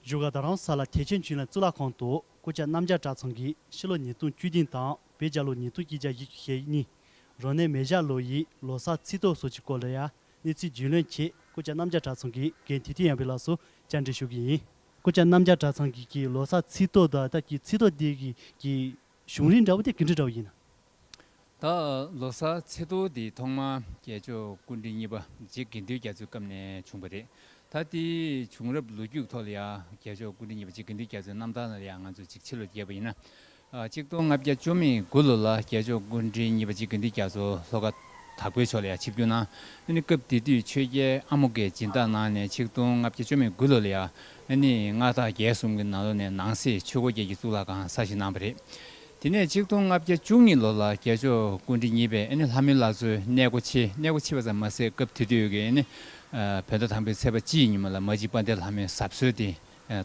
བཞུགས་སྒར་རྡ་རམ་ས་ལ་ཐེག་ཆེན་བྱིན་རླབས་གཙུག་ལག་ཁང་དུ་སྐུ་བཅར་གནམ་ལྕགས་གྲྭ་ཚང་གི་ཕྱི་ལོ་ཉིས་སྟོང་བཅུ་བདུན་དང་བོད་རྒྱལ་ལོ་ཉིས་སྟོང་བཅུ་གྱ་བཞི་བཅུ་ཞེ་གཉིས་རོ་ནས་མེ་བཞག་ལོ་ཡི་ལོ་སར་ཚིག་ཐོ་སོགས་ཀྱི་སྐོར་ལ་ཡང་གནས་ཚུལ་རྒྱུས་ལོན་ཆེད་སྐུ་བཅར་གནམ་ལྕགས་གྲྭ་ཚང་གི་འགན་འཁྲི་དུས་ཡངས་པའི་ལགས་སུ་བཅར་འདྲི་ཞུ་གི་ཡིན། སྐུ་བཅར་གནམ་ལྕགས་གྲྭ་ཚང་གི་ལོ་སར་ཚིག་ཐོ་དང་ད་ལྟ་གི་ཚིག་ཐོ་འདི་གི་གཞུང་རིང་འདྲ་བོ་དེ་གི་འདྲི་འདྲ་བོ་ཡིན། ད་ལོ་ས་ཚེ་ཐོ་འདི་ཐོག་མ་རྒྱལ་མཆོག་སྐུ་འདྲི་གཉིས་པ་རྗེ་དགེ་འདུན་རྒྱ་མཚོའི་སྐབས་ནས་བྱུང་བ་རེད། ད་ལྟའི་བྱུང་རབས་ལོ་རྒྱུས་ཐོག་ལ་ཡང་རྒྱལ་མཆོག་སྐུ་འདྲི་གཉིས་པ་རྗེ་དགེ་འདུན་རྒྱ་མཚོའི་རྣམ་ཐར་ལ་ཡང་ང་ཚོས་ཅིག་ཕྱི་ལོ་བརྒྱད་པ་ཡིན་ན། གཅིག་སྟོང་ལྔ་བརྒྱ་བཅོ་མེད་དགུ་ལོ་ལ་རྒྱལ་མཆོག་སྐུ་འདྲི་གཉིས་པ་རྗེ་དགེ་འདུན་རྒྱ་མཚོ་ལྷོ་ཁ་དྭགས་པོའི་ཕྱོགས་ལ་ཡང་ཆིབས་བསྒྱུར་གནང། སྐབས་དེ་དུས་ཆོས་རྒྱལ་ཨ་མོ་ཀའི་སྦྱིན་བདག་གནང་ནས་ཆིག་སྟོང་ལྔ་བརྒྱ་བཅོ་མེད་དགུ་ལོ་ལ་ཡང་ཨ་ནི་ང་ཐག་བརྒྱད་གསུམ་གྱི་ནང་ལོ་ནས་ནང་གསེས་ཆོས་སྒོ་བརྒྱད་ཀྱི་གཙུག་ལག་ཁང་གསར་བཞེངས་གནང་བ་རེད། དེ་ནས་གཅིག་སྟོང་ལྔ་བརྒྱ་བཅུ་གཉིས་ལོ་ལ་རྒྱལ་མཆོག་ཀུན་དྲིན་གཉིས་པས་ཨ་ནི་ལྷ་མོའི་བླ་མཚོའི་གནས་སྒོ་ཕྱེ་གནས་སྒོ་ཕྱེ་བ་ཙམ་མ་ཟད་སྐབས་དེ་དུས་ཀྱི་ཨ་ནི་བོད་ཟླ་དང་པོའི་ཚེས་པ་སྤྱི་ཡི་ཉིན་མོ་ལ་མ་གཅིག་དཔའ་འདེགས་ལྷ་མོའི་ཟབ་གསོལ་དེ་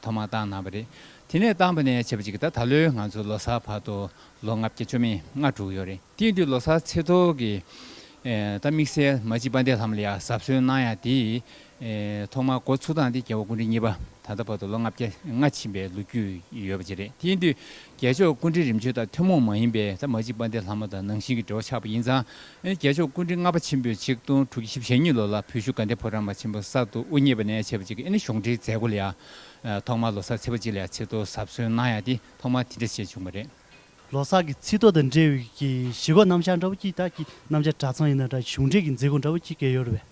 ཐོག་མར་བཏང་གནང་བ་རེད། དེ་ནས་བཏང་བ་ནས་བྱེད་པ་ཅིག་ད་ད་ལོའི་ང་ཚོའི་ལོ་སར་བར་དུ་ལོ་ལྔ་བརྒྱ་བཅོ་མེད་ང་དྲུག་ཡོད་རེད། དེའི་དུས་ལོ་སར་ཚེས་ཐོག་གི་ད་དམིགས་བསལ་མ་གཅིག་པ་འདས་ལྷམ་ལ་ཡ་གཟབ་གསོལ་གནང་ཡ་དེ་ཐོག་མར་འགོ་ཚུགས་སྟངས་དེ་རྒྱལ་བ་ཀུན་གྲི་གཉིས་པ་ད་ལྟ་བར་དུ་ལོ་ལྔ་བརྒྱ་ལྔ་ཕྱིན་པའི་ལོ་རྒྱུས་ཡོད་པ་ཅིག་རེད་དེ་ཡིན་དུས་རྒྱལ་མཆོག་ཀུན་གྲི་རིམ་བྱོན་དང་ཐུན་མོང་མ་ཡིན་པའི་ད་མ་གཅིག་པ་འདས་ལྷམ་མོ་དང་ནང་བཞིན་གྱི་འབྲེལ་བ་ཆགས་པ་ཡིན་ཙང་རྒྱལ་མཆོག་ཀུན་གྲི་ལྔ་པ་ཆེན་པོས་ཆིག་སྟོང་དྲུག་བརྒྱ་ཞེ་བཞི་ཞེ་གཉིས་ལོ་ལ་བོད་བཞུགས་དགའ་ལྡན་ཕོ་བྲང་པ་ཆེན་པོ་གསར་དུ་དབུ་བརྙེས་པ་ནས་བྱེད་པ་ཅིག་གི་ཨེ་ནི་གཞུང་འབྲེལ་མཛད་སྒོ་ལ་ཡང་ཐོག་མར་ལོ་སར་ཚེས་པ་གཅིག་ལ་ཡ་ཚིག་ཐོ་གཟབ་གསོལ་གནང་ཡ་དེ་ཐོག་མར་དེ་འདྲ་བྱས་བྱུང་བ་རེད། ལོ་སར་གྱི་ཚིག་ཐོ་དང་འབྲེལ་བའི་གཞིས་སྒོ་རྣམ་བཞག་འདྲ་བོ་གཅིག་དག་གི་རྣམ་བཞག་གྲྭ་ཚང་ཡིན་ན་འདྲ་གཞུང་འབྲེལ་གྱི་མཛད་སྒོ་འདྲ་བོ་གཅིག་གེ་ཡོད་རེད་པས།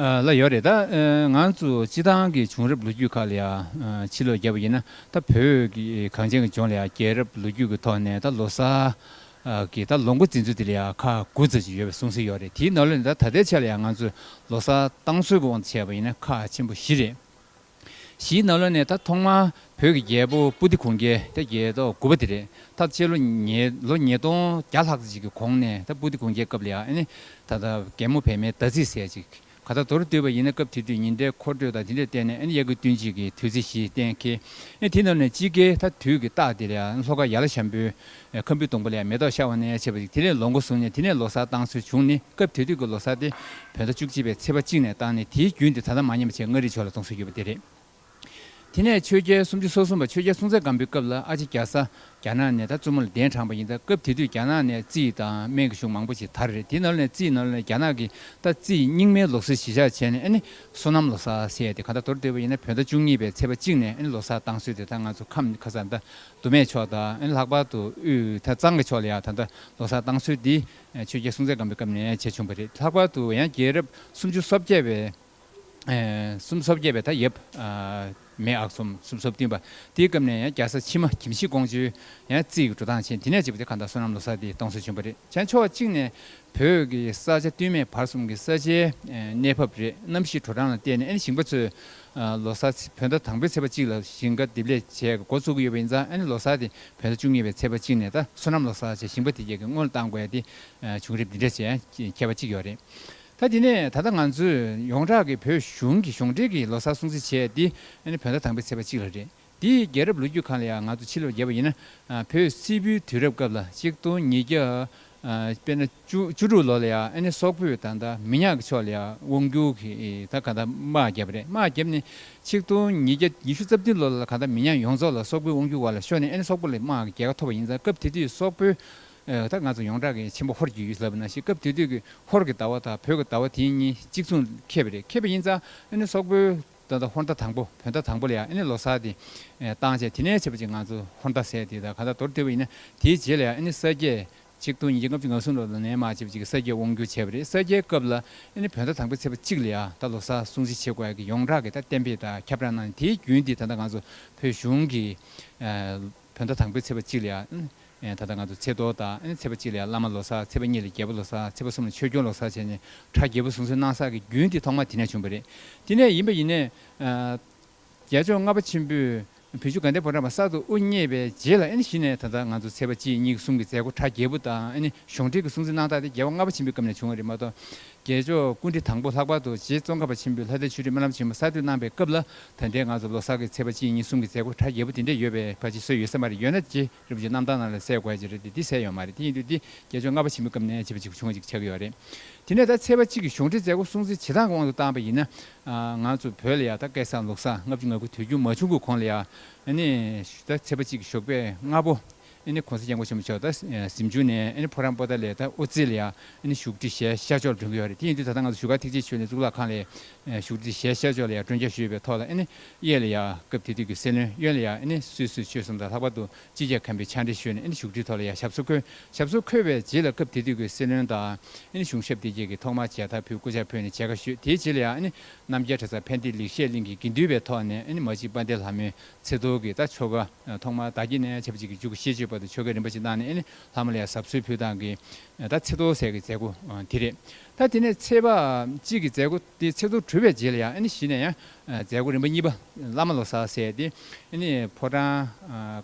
ལ་ཡོད་རེད་ད། ང་ཚོ་སྤྱི་བཏང་གི་བྱུང་རབས་ལོ་རྒྱུས་ཁག་ལ་ཡང་ཕྱི་ལོག་རྒྱབ་པ་ཡིན་ན་ད་བོད་ཀྱི་གངས་ཅན་གྱི་ལྗོངས་ལ་ཡང་རྒྱལ་རབས་ལོ་རྒྱུས་ཀྱི་ཐོག་ནས་ད་ལོ་སར་གྱི་ད་ལོ་འགོ་འཛིན་ཚུལ་དེ་ལ་ཡང་ཁ་དགུ་ཚར་གཅིག་ཡོད་པའི་གསུང་ཟིན་ཡོད་རེད་དེའི་ནོར་ལས་ནི་ད་ད་ལྟའི་ཆ་ལ་ཡང་ང་ཚོས་ལོ་སར་བཏང་ཚུལ་གྱི་དབང་དུ་བྱས་པ་ཡིན་ན་ཁ་ཆེན་པོ་བཞི་རེད། གཞིས་ནཱ་ལོ་ནས་ད་ཐོག་མ་བོད་ཀྱི་རྒྱལ་པོ་པུ་ཏི་གོང་རྒྱལ་ད་རྒྱལ་ཏོ་དགུ་པ་དེ་རེད་ད་བཅད་ལོ་ལོ་ཉིས་སྟོང་བརྒྱ་ལྷག་ཅིག་གི་གོང་ནས་ད་པུ་ཏི་གོང་རྒྱལ་སྐབས་ལ་ཡང་ད་ད་རྒན་མོ་བལ་མའི་ད་ཚིག་ཟས་ཅིག་ག་ད་དོར་བསྡུས་པ་ཡིན་ན་སྐབས་དེ་དུས་ཉིན་རེའི་འཁོར་འགྲོས་དང་དེ་འདྲས་བསྟན་ནས་གཡག་གི་བསྟུན་བྱེད་ཀྱི་དུས་ཚིགས་ཤིག་གཏན་ཁེལ་དེ་རྣམས་ནས་སྤྱི་སྐད་ད་དུས་ཀྱི་རྟགས་དེ་ལ་ཡང་ལྷོ་ཁ་ཡ་ལ་ཤམ་པོའི་ཁམ་བུའི་སྡོང་པོ་ལས་མེ་ཏོག་ཤར་བ་ནས་བྱེད་པ་ཞིག་དེ་ལས་ལོ་འགོ་བཟུང་ནས་དེ་ནས་ལོ་སར་བཏང་སྲོལ་བྱུང་ནི་སྐབས་དེ་དུས་ཀྱི་ལོ་སར་དེ་བོད་ཟླ་བཅུ་གཅིག་པའི་ཚེས་པ་གཅིག་ནས་བཏང་ནས་དེའི་རྒྱུན་དེ་ད་ལྟ་མ་ཉམས་པ་བཅས་མངའ་རིས་ཕྱོགས་ལ་གཏོང་སྲོལ་ཡོད་པ་དེ་རེད། དེ་ནས་ཆོས་རྒྱལ་སུམ་ཅུ་སོ་གསུམ་པ་ཆོས་རྒྱལ་སྲོང་བཙན་སྒམ་པོའི་སྐབས་ལ་ཨ་ཅེ་རྒྱ་བཟའ་རྒྱ་ནག་ནས་ད་བཙུན་མོ་ལ་གདན་དྲངས་པ་ཡིན་ད་སྐབས་དེ་དུས་རྒྱ་ནག་ནས་རྩིས་དང་སྨན་གྱི་གཞུང་མང་པོ་ཞིག་དར་རེད་དེ་ནོར་ལ་ནས་རྩིས་ནོར་ལ་ནས་རྒྱ་ནག་གིས་ད་རྩིས་རྙིང་མའི་ལོ་སར་གཞི་བཞག་བྱས་ནས་ཨ་ནི་སོ་ནམ་ལོ་སར་ཟེར་ཡ་དེ་ག་ད་དོར་འདོད་པ་ཡིན་ན་བོད་ཟླ་བཅུ་གཉིས་པའི་ཚེས་པ་གཅིག་ནས་ཨ་ནི་ལོ་སར་བཏང་སྲོལ་དེ་ད་ང་ཚོ་ཁམས་ཁ་ས་མདའ་དུ་མའི་ཕྱོགས་དང་ལྷག་པར་དུ་དབུས་ཐ་གཙང་གི་ཕྱོགས་ལ་ཡང་ད་ལྟ་ལོ་སར་བཏང་ཚུལ་འདི་ཆོས་རྒྱལ་སྲོང་བཙན་སྒམ་པོའི་སྐབས་ནས་བྱས་བྱུང་བ་རེད། ལྷག་པར་དུ་ཡང་རྒྱལ་རབས་སུམ་ཅུ་སོ་བརྒྱད་པའི་སུམ་སོ་བརྒྱད་པའི་ད་ཡབ་མེས་ཨག་ཚོམ་སུམ་སོ་བདུན་པ་དེའི་སྐབས་ནས་ཡང་རྒྱལ་ས་ཕྱི་མ་གྱིམ་གཞི་ཀོང་ཇོའི་ཡང་རྩིས་ཀྱི་འགྲོ་སྟངས་ཆེན་དེ་ནས་བྱེད་པ་དེ་ག་ད་བསོད་ནམས་ལོ་སར་འདི་གཏོང་སྲོལ་བྱུང་བ་རེད་བྱས། ཕྱོགས་གཅིག་ནས་བོད་ཀྱི་ས་ཆ་བསྟུད་མའི་བར་གསུམ་གྱི་ས་ཆའི་གནས་བབ་རེད་གནམ་གཤིས་དྲོ་གྲང་ལ་བལྟས་ནས་ཨེ་ནི་ཞིང་པ་ཚོས་ལོ་གསར་ཚེས་བོད་ཟླ་དང་པོའི་ཚེས་པ་གཅིག་ལ་ཞིང་ཁ་འདེབས་ལས་བྱེད་འགོ་བཙུགས་ཀྱི་ཡོད་པ་ཡིན་ཙང་ཨ་ནེ་ལོ་གསར་དེ་བོད་ཟླ་བཅུ་གཉིས་པའི་ཚེས་པ་གཅིག་ནས་ད་བསོད་ནམས་ལོ་གསར་ཅེས་ཞིང་པ་དེ་རྒྱལ་ཁའི་སྔོན་ལ་བཏང་དགོས་ཏེ་བྱུང་རིམ་འདི་འདྲ་བྱས་ཁྱད་པ་གཅིག་ཡོད་རེད། ད་དེ་ནས་ད་ལྟ་ང་ཚོས་ཡོངས་གྲགས་ཀྱི་བོད་གཞུང་གིས་གཞུང་འབྲེལ་གྱི་ལོ་གསར་སྲུང་བརྩི་བྱས་ཏེ་ཨ་ནེ་བོད་ཟླ་དང་པོའི་ཚེས་པ་གཅིག་ལ་རེད། འདི་ཡི་རྒྱལ་རབས་ལོ་རྒྱུས་གང་ལ་ཡང་ང་ཚོ་ཕྱི་ལོར་བརྒྱད་པ་ཡིན་ན་བོད་སིལ་བུའི་དུས་རབས་སྐབས་ལ་གཅིག་སྟོང་ཉིས་བརྒྱ། དཔེར་ན་བཅུ་དྲུག་ལོ་ལ་ཡང་ཨ་ནེ་སོག་པོས་ད་ལྟ་མི་ཉག་གི་ཕྱོགས་ལ་ཡང་དབང་བསྒྱུར་གྱིས་ད་ག་ད་དམག་བརྒྱབ་པ་རེད་དམག་བརྒྱབ་ནས་ཆིག་སྟོང་ཉིས་བརྒྱ་ཉི་ཤུ་རྩ་བདུན་ལོ་ལ་ག་ད་མི་ཉག་ཡོངས་རྫོགས་ལ་སོག་པོའི་དབང་བསྒྱུར་བར་ལ་ཤོར་ནས་ཨ་ནེ་སོག་པོ་ལས་དམག་གི་རྒྱལ་ཁ་ཐོབ་པ་ཡིན་ཙང་སྐབས་དེ་དུས་སོག་པོས་ད་ང་ཚོ་ཡོངས་གྲགས་ཀྱི་ཆེན་པོ་ཧོར་གྱི་ཡུལ་ལབ་ན་ཞེས་སྐབས་དེ་དུས་ཀྱི་ཧོར་གྱི་ཟླ་བ་དང་བོད་ཀྱི་ཟླ་བ་དེ་གཉིས་གཅིག་མཚུངས་ཁེབས་པ་རེད་ཁེབས་པ་ཡིན་ཙང་ཨ་ནེ་སོག་པོའི་སྟོན་ཟླ་ཧོར་ཟླ་དང་པོ་བོད་ཟླ་དང་པོ་ལ་ཡང་ཨེ་ནི་ལོ་སར་དེ་བཏང་བྱས་དེ་ནས་བྱེད་པ་ཅིག་ང་ཚོ་ཧོར་ཟླ་ཟེར་དེ་དག་ག་ད་དོར་བསྡུས་པ་ཡིན་ན་དེའི་རྗེས་ལ་ཡང་ཨེ་ནི་ས་སྐྱའི་ཆིག་སྟོང་ཉིས་བརྒྱ་ལྔ་བཅུ་ང་གསུམ་ལོར་ལ་ནན་མ་བྱེད་པ་ཅིག་གི་ས་སྐྱའི་དབང་བསྒྱུར་བྱས་པ་རེད་ས་སྐྱའི་སྐབས་ལ་ཨེ་ནི་བོད་ཟླ་དང་པོའི་ཚེས་པ་གཅིག་ལ་ཡང་ད་ལོ་སར་སྲུང་བརྩི་བྱེད་དགོས་ཀྱི་ཡོངས་གྲགས་ཀྱི་ད་གཏན་འབེབས་དག་ཁྱབ་བསྒྲགས་གནང་ནས་དེའི་རྒྱུན་དེ་ད་ད་ང་ཚོ་བོད་གཞུང་གི་བོད་ཟླ་དང་པོའི་ཚེས་པ་གཅིག་ལ་ཡང་ད་ལྟ་ང་ཚོ་ཚེས་གཏོར་དང་ཚེས་པ་གཅིག་ལ་ཡང་བླ་མ་ལོ་སར་ཚེས་པ་གཉིས་ལ་རྒྱལ་པོ་ལོ་སར་ཚེས་པ་གསུམ་ལ་ཆོས་སྐྱོང་ལོ་སར་བྱས་ནས་གྲ་རྒྱལ་པོ་བཟུང་སྲོལ་གནང་སར་གྱི་རྒྱུན་དེ་ཐོག་མ་དེ་ནས་བྱུང་བ་རེད། དེ་ནས་ཡིན་པ་ཡིན། རྒྱལ་མཆོག་ལྔ་པ་ཆེན་པོས་བོད་ཆུ་དགའ་ལྡན་ཕོ་བྲང་བར་གསར་དུ་དབུ་བརྙེས་པའི་རྗེས་ལ་གཞི་ནས་ད་ལྟ་ང་ཚོ་ཚེས་པ་གཅིག་གཉིས་གསུམ་གྱི་མཛད་སྒོ་གྲ་རྒྱལ་པོ་དང་གཞུང་འབྲེལ་གྱི་སྲུང་བརྩི་གནང་སྟངས་དེ་རྒྱལ་བ་ལྔ་པ་ཆེན་པོའི་སྐབས་ནས་བྱུང་བ་རེད་མ་གཏོགས་རྒྱལ་མཆོག་སྐུ་འདི་དང་པོ་ལྷག་པར་དུ་རྗེ་ཙོང་ཁ་པ་ཆེན་པོས་ལྷ་སྡེ་ཆོས་སྒྲིག་སྨོན་ལམ་ཆེན་མོ་གསར་གཏོད་གནང་པའི་སྐབས་ལ་ད་ལྟའི་ང་ཚོ་ལོ་གསར་གྱི་ཚེས་པ་གཅིག་གཉིས་གསུམ་གྱི་མཛད་སྒོ་གྲ་རྒྱས་པོ་འདི་འདྲ་ཡོད་པའི་བར་ཅི་བཟོས་ཡོད་ས་མ་རེད་ཡོད་ན་རྗེ་རབ་རྗེ་རྣམ་དག་རྣམས་ལ་གསལ་དགོས་ཧ་ཅང་རེད་དེ་འདི་གསལ་ཡོད་མ་རེད་དེ་ཡིན་དུས་འདི་རྒྱལ་མཆོག་ལྔ་པ་ཆེན་པོའི་སྐབས་ནས་བྱིས་པ་གཅིག་པུ་ཆུང་ངུ་གཅིག་ཆགས་ཀྱི་ཡོད་རེད་དེ་ནས་ད་ཚེས་པ་གཅིག་གི་གཞུང་འབྲེལ་མཛད་སྒོ་སྲུང་བརྩི་བྱེད་སྟངས་ཀྱི་དབང་དུ་བཏང་པ་ཡིན་ན་ང་ཚོ་བོད་ལ་ཡང་ད་སྐད་བསམ་ལུགས་བཟང་ལྔ་བཅུ་ང་དགུ་དུས་རྒྱུན་མ་བྱུང་གི་གོང་ལ་ཡང་ནི་ད་ཚེས་པ་གཅིག་གི་ཞོགས་པའི་ལྔ་པོ། ཨནི་གོང་ས་སྐྱབས་མགོན་ཆེན་མོ་མཆོག་ད་གཟིམ་ཆུང་ནས་ཨནི་ཕོ་རང་པོ་ད་ལས་ད་ཨོ་རྩི་ལ་ཡང་བཞུགས་ཁྲི་ཞལ་ཤར་ཕྱོགས་ལ་སྒྲོན་གྱི་ཡོད་རེད་དེ་ཡིན་དུས་ད་ལྟ་ང་ཚོ་བཞུགས་སྒར་ཐེག་ཆེན་ཆོས་ལས་གཙུག་ལག་ཁང་ལས་བཞུགས་ཁྲི་ཞལ་ཤར་ཕྱོགས་ལ་ཡང་སྒྲོན་བྱ་ཞུས་པའི་ཐོག་ལ་ཨནི་གཡས་ལ་ཡང་སྐབས་དེ་དུས་ཀྱི་སྲས་བློན་གཡོན་ལ་ཡང་ཨནི་སུད་སུ་ཆོས་གསུམ་དང་ལྷག་པར་དུ་སྤྱི་ཁྱབ་མཁན་པོའི་ཕྱག་འབྲེལ་ཞུས་ནས་ཨནི་བཞུགས་ཁྲིའི་ཐོག་ལ་ཡང་ཞབས་སོར་འཁོད་ཞབས་སོར་འཁོད་པའི་རྗེས་ལ་སྐབས་དེ་དུས་ཀྱི་སྲས་བློན་དང་ཨནི་གཞུང་ཞབས་དེ་བཅས་ཀྱིས་ཐོག་མར་མཇལ་དར་ཕུད་སྐུ་ཕྱག་ཕུལ་ནས་མཇལ་ཁ་ཞུས་དེའི་རྗེས་ལ་ཡང་ཨནི་རྣམ་རྒྱལ་གྲྭ་ཚང་ཕན་བདེ་ལེགས་བཤད་གླིང་གི་དགེ་འདུན་པའི་ཐོག་ནས་ཨནི་མ་གཅིག་དཔལ་ལྡན་ལྷ་མོའི་ཚེ་རྡོར་གྱིས་ད་ཆོ་ག་ཐོག་མར་བདག་གྱིས་ནས་བྱབ་ཅིག་གི་འཇུག་གི་ཤེས་བྱོས་པ་དེ་ཆོ་གའི་རིན་པ་ཅིག་བཏང་ནས་ནི་ལྷ་མོ་ལ་ཡང་ཟབ་གསོལ་ཕུལ་སྟངས་ཀྱི་ད་ཚེ་རྡོར་ཟས་ཀྱི་མཛད་སྒོ་དེ་རེད་ད་དེ་ནས་ཚེས་པ་གཅིག་གི་མཛད་སྒོ་དེ་ཚེ་རྡོར་གྲུབ་པའི་རྗེས་ལ་ཡང་ནི་བཞི་ནས་ཡང་མཛད་སྒོ་རིམ་པ་གཉིས་པ་བླ་མ་ལོ་སར་ཟས་དེ་ནི་ཕོ་བྲང་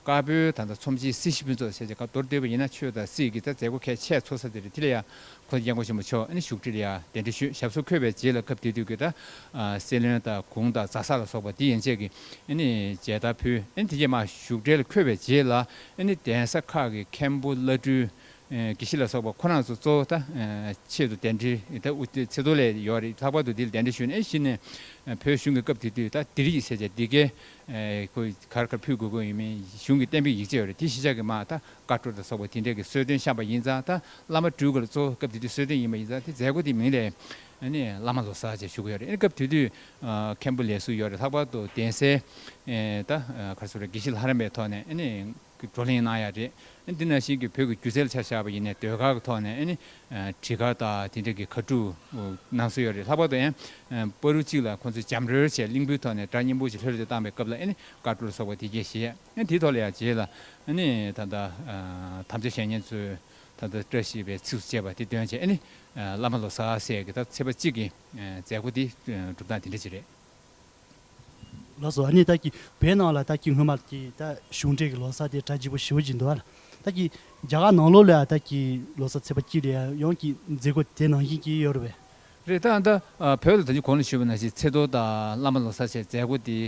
དཀར་པོའི་ད་ད་ཚོམས་ཆེན་སྲིད་ཞི་ཕུན་ཚོགས་ཟས་ཀྱི་ཁ་མདོར་སྡོད་པ་ཡིན་ན་ཆོས་དང་སྲིད་ཀྱི་ད་མཛད་སྒོ་ཁས་ཆད་འཚོགས་ས་དེ་རེད་དེ་ལ་ཡང་ཁོ་ཚོས་རྒྱལ་མགོ་ཆེན་པོ་མཆོག་ནི་བཞུགས་ཁྲི་ལ་ཡང་གདན་འདྲེན་ཞུས་ཞབས་སོར་འཁོད་པའི་རྗེས་ལ་སྐབས་དེ་དུས་ཀྱི་ད་སེ་བློན་དང་གུང་དང་རྫ་ས་ལ་སོགས་པ་འདི་ཡན་ཆད་ཀྱི་མཇལ་དར་ཕུལ་དེ་རྗེས་མ་བཞུགས་ཁྲི་ལ་འཁོད་པའི་རྗེས་ལ་གདན་ས་ཁག་གི་མཁན་པོ་བླ་སྤྲུལ་དགེ་བཤེས་ལ་སོགས་པ་ཁོ་རང་ཚོ་གཙོ་བོ་ད་ཆེད་དུ་གདན་འདྲེན་ད་ཚེ་རྡོར་ལས་ཡོག་རེད་ལྷག་པར་དུ་འདི་ལ་གདན་འདྲེན་ཞུས་ནས་གཞི་ནས་བོད་གཞུང་གི་སྐབས་དེ་དུས་ད་འདིར་ཡིག་ཆ་ཅི་འདི་གའི་གར་གར་ཕུལ་དགོས་དགོས་ཡིན་མིན་གཞུང་གི་གཏན་འབེབས་ཡིག་ཆ་ཡོག་རེད་དེ་གཞི་ཆགས་ཀྱི་མ་ད་བཀའ་འཁྲོལ་དང་སོགས་པ་དེ་འདྲས་ཀྱི་གསོལ་སྟོན་བཤམས་པ་ཡིན་ཙང་ད་བླ་མ་སྤྲུལ་སྐུ་ལ་གཙོ་བོ་སྐབས་དེ་དུས་གསོལ་སྟོན་ཡིན་པ་ཡིན་ཙང་དེ་མཛད་སྒོ་དེ་མིན་ལས། ནི་བླ་མ་ལོ་སར་བཅས་བཞུགས་ཀྱི་ཡོད་རེད་ཨེ་ནི་སྐབས་དེ་དུས་མཁན་པོ་ལས་སུ་ཡོད་རེད་ལྷག་པར་དུ་གདན་སའི། ད་གར་སུ་རེད་དགེ་བཤེས་ལྷ་རམས་པའི་ཐོག་ནས་ཨེ་ནི། བགྲོ་གླེང་གནང་ཡག་རེད་ཨེ་འདི་ན་བཞིན་གྱི་བོད་ཀྱི་སྒྱུ་རྩལ་ཆ་བཞག་པ་ཡིན་ནས་ཟློས་གར་གྱི་ཐོག་ནས་ཨེ་ནི། བྲིས་གར་དང་དེ་འདྲས་ཀྱི་གར་སྒྲུབ་གནང་སྲོལ་ཡོད་རེད་ལྷག་པར་དུ་ཨན། པར་རུ་གཅིག་ལ་ཁོང་ཚོས་འཇམ་རོལ་བྱས་གླིང་བུའི་ཐོག་ནས་སྒྲ་སྙན་པོ་ཅིག་ལྷོད་ལྷོད་དུ་བཏང་པའི་སྐབས་ལ་ཨེ་ནི་བཀའ་འཁྲོལ་ལ་སོགས་པ་དེ་རྒྱས་བཞེས། དེའི་ཐོག་ལ་ཡང་རྗེས་ལ་ནི་ད་ལྟ་དམ་བཅའ་བཤེས་གཉེན་ཚོས་ད་ལྟ་བཀྲ་ཤིས་པའི་ཚིགས་སུ་བཅད་པ་དེ་འདོན་བྱས་ནས་བླ་མ་ལོ་ས་སྲས་ཀྱི་ད་ཚེས་པ་གཅིག་གི་མཛད་སྒོ་དེ་གྲུབ་སྟངས་དེ་འདྲ་ཅིག་རེད། ལགས་སོ་ཨ་ནི་ད་ཀྱི་བོད་ནང་ལ་ད་ཀྱི་སྔོན་མ་ཀྱི་ད་གཞུང་འབྲེལ་གྱི་ལོ་ས་དེ་གྲ་བརྗིད་པོ་ཞི་བོ་ཞིག་འདུག་ཨ་ད་ཀྱི་རྒྱ་གར་ནང་ལོགས་ལ་ད་ཀྱི་ལོ་ས་ཚེས་པ་གཅིག་ལ་ཡང་ཀྱི་མཛད་སྒོ་དེ་ནང་བཞིན་གྱི་ཡོད་རེད་བས་རེད་ད། ད་བོད་ལ་ད་ཅི་གོ་ན་ཞུས་པ་ན་ཞིག་ཚེ་རྡོར་དང་བླ་མ་ལོ་གསར་བཅས་མཛད་སྒོ་དེ་